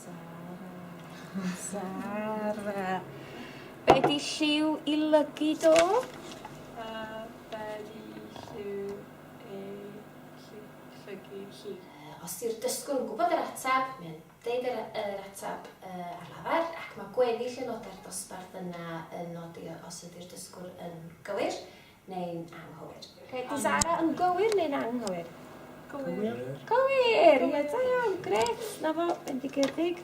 Sara. Sara. Be di lliw i lygu do? A be di lliw ei llygu hi? Os di'r dysgwr yn gwybod yr ateb, mae o'n deud yr yr ateb yy ar lafar ac mae gweddill aelodau'r dosbarth yna yn nodi os ydi'r dysgwr yn gywir neu'n anghywir? Reit, di Zara yn gywir neu'n anghywir? Cywir. Cywir! Ie, da iawn, gret. Na fo, bendigedig.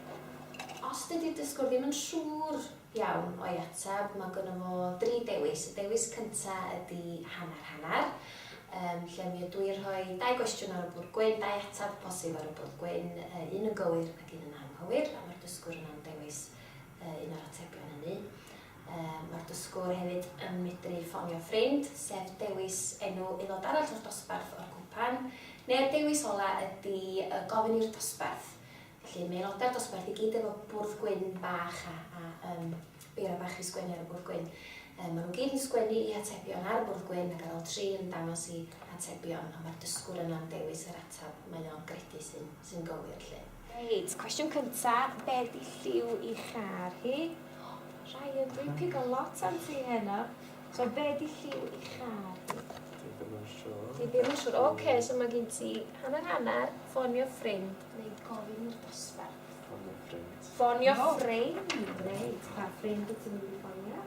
Os dydy dysgwr ddim yn siŵr iawn o'i ateb, mae gynnu fo dri dewis. Y dewis cyntaf ydy hanner hanner, um, lle mi ydw i'n rhoi dau gwestiwn ar y bwrdd gwyn, dau ateb posib ar y bwrdd gwyn, uh, un yn gywir ac un yn anghywir, a mae'r dysgwr yna'n dewis uh, un o'r atebion hynny. Mae'r dysgwr hefyd yn medru ffonio ffrind, sef dewis enw aelod arall o'r dosbarth o'r cwpan, neu'r dewis ola ydy y gofyn i'r dosbarth. Felly mae aelodau'r dosbarth i gyd efo bwrdd gwyn bach a, a um, beiro bach i sgwennu ar y bwrdd gwyn. Um, maen nhw gyd yn sgwennu i atebion ar y bwrdd gwyn ac ar ôl tri yn dangos i atebion a mae'r dysgwr yna'n dewis yr atab mae o'n gredu sy'n sy gywir. Lle. Reit, cwestiwn cynta, be di lliw i char hi? Ryan, dwi'n pigo lot am ti heno. So, be di lliw i char hi? Dwi ddim yn siŵr. Dwi ddim yn siŵr. Oce, so mae gen ti hanner hanner, ffonio ffrind neu gofyn i'r dosbarth. Ffonio ffrind. Ffonio ffrind, reit. Pa ffrind wyt ti'n mynd i ffonio?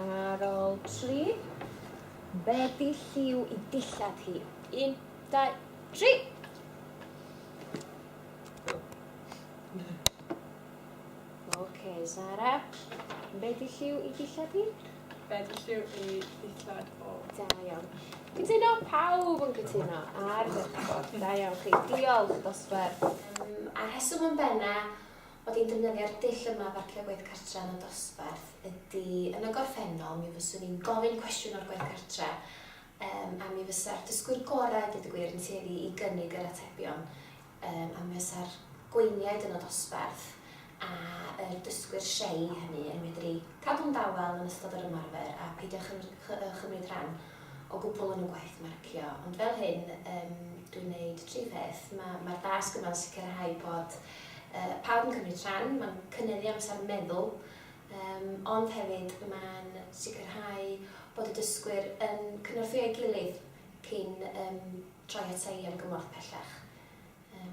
Ar ôl tri, bedi lliw i dillad hi. Un, dau, tri! Oce, Zara. Bedi lliw i dillad hi? Bedi lliw i dillad o. Da iawn. Cytuno, pawb yn cytuno. Ar ddechrau. Da iawn chi. Diolch, dosbarth. A'r rheswm yn benna, Mod i'n defnyddio'r dull yma efo'r creu gwaith cartre yn y dosbarth ydy, yn y gorffennol mi fyswn i'n gofyn cwestiwn o'r gwaith cartre um, a mi fysa'r dysgwyr gorau, dweud y gwir, yn tueddu i gynnig yr atebion um, a mi fysa'r gweiniaid yn y dosbarth a yr dysgwyr shei hynny yn medru cadw'n dawel yn ystod yr ymarfer a peidio chymryd rhan o gwbl yn y gwaith marcio. Ond fel hyn, um, dwi'n neud tri pheth. Mae'r ma dasg yma'n sicrhau bod Pawb yn cymryd rhan, mae'n cynyddu amser meddwl, ond hefyd mae'n sicrhau bod y dysgwyr yn cynorthwyo'i gilydd cyn troi ata i am gymorth pellach.